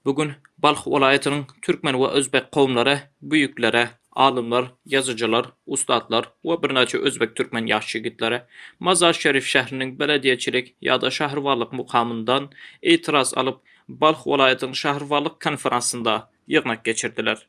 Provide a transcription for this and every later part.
Bu gün Balh welaýatynyň türkmen we özbek kowumlary büýükleri, alymlar, ýazyjylar, ussatlar we birnäçe özbek-türkmen ýaş ýigitleri Mazar-Şerif şähriniň belediýeçilik ýa-da şäherwalyk mukamyndan itiraz alyp, Balh welaýatynyň şäherwalyk konferansynda ýygnak geçirdiler.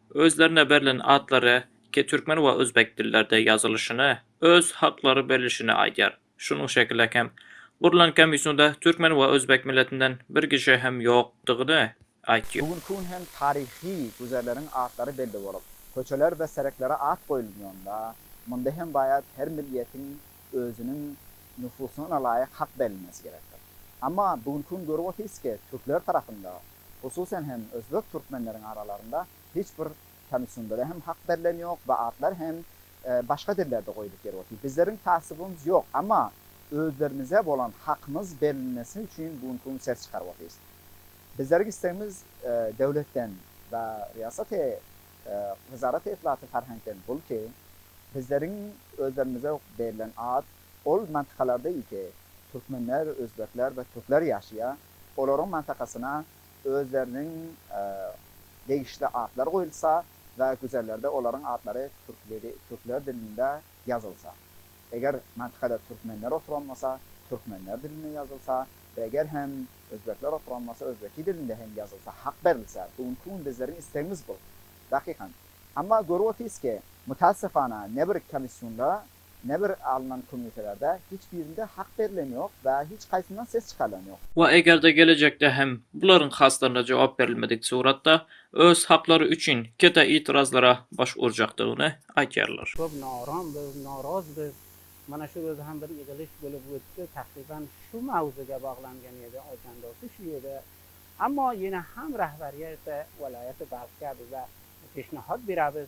Özlerine berlen atlary ki türkmen we özbek dillerde ýazylyşyny, öz haklary berlişini aýdýar. Şunuň şekile hem, gurlan komissiýada türkmen we özbek milletinden bir kişi hem ýokdygyny aýtýar. Bugünki gün hem taryhy güzerleriň atlary belli bolup, köçeler we sereklere at goýulýanda, munda hem baýat her milletiň özüniň nüfusyna laýyk hak berilmesi gerekdir. Amma bugünki gün görüp otyrsky, türkler tarapynda Hususan hem özbek türkmenleriň aralarynda hiç bir tanyşyndere hem hak berlen ýok we atlar hem başga dillerde goýulyp ýeri otyr. Bizleriň tassubymyz ýok, amma özlerimize bolan hakymyz berilmesi üçin bu günki gün ses çykaryp otyrys. Bizleriň istegimiz döwletden we riýasaty wezaraty itlaty ferheňkden bul ki, bizleriň özlerimize berlen at ol mantikalarda iki türkmenler, özbekler we türkler ýaşaýar. olaryň mantakasyna özleriniň degişli atlary goýulsa we güzerlerde olaryň atlary türkler dilinde ýazylsa, eger mantakada türkmenler oturan bolsa, türkmenler dilinde ýazylsa we eger hem özbekler oturan bolsa, özbeki dilinde hem ýazylsa, hak berilse, bu günki gün bizleriň islegimiz bu, dakykan. Emma görüp otyrys ki, mutaassefana, nebir komissiýonda Nebir alnan komissiýalarda hiç birinde hak berilen ýok we hiç haýsyndan ses çykarylan ýok. We eger-de gelejekde hem bularyň haslaryna jogap berilmedik suratda öz haklary üçin kete itirazlara baş urjakdygyny aýtýarlar. Köp naram we naraz biz. Mana şu gözi hem bir ýygylyş bolup götdi. Takryban şu mawzuga baglangan ýedi aýdan dosty şu ýerde. Amma ýene ham rahbarýete welaýaty galkýa bize peşnahat berabiz.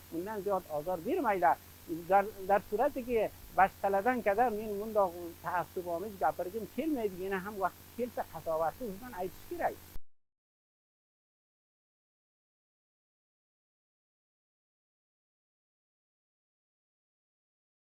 Mundan dört ozal bir maýla Darturadigi başgaladan kadar men munda taassubymy gapyrygym kelmedi, ýene ham wagty gelse hasabatly ugurdan aýdyş gerek.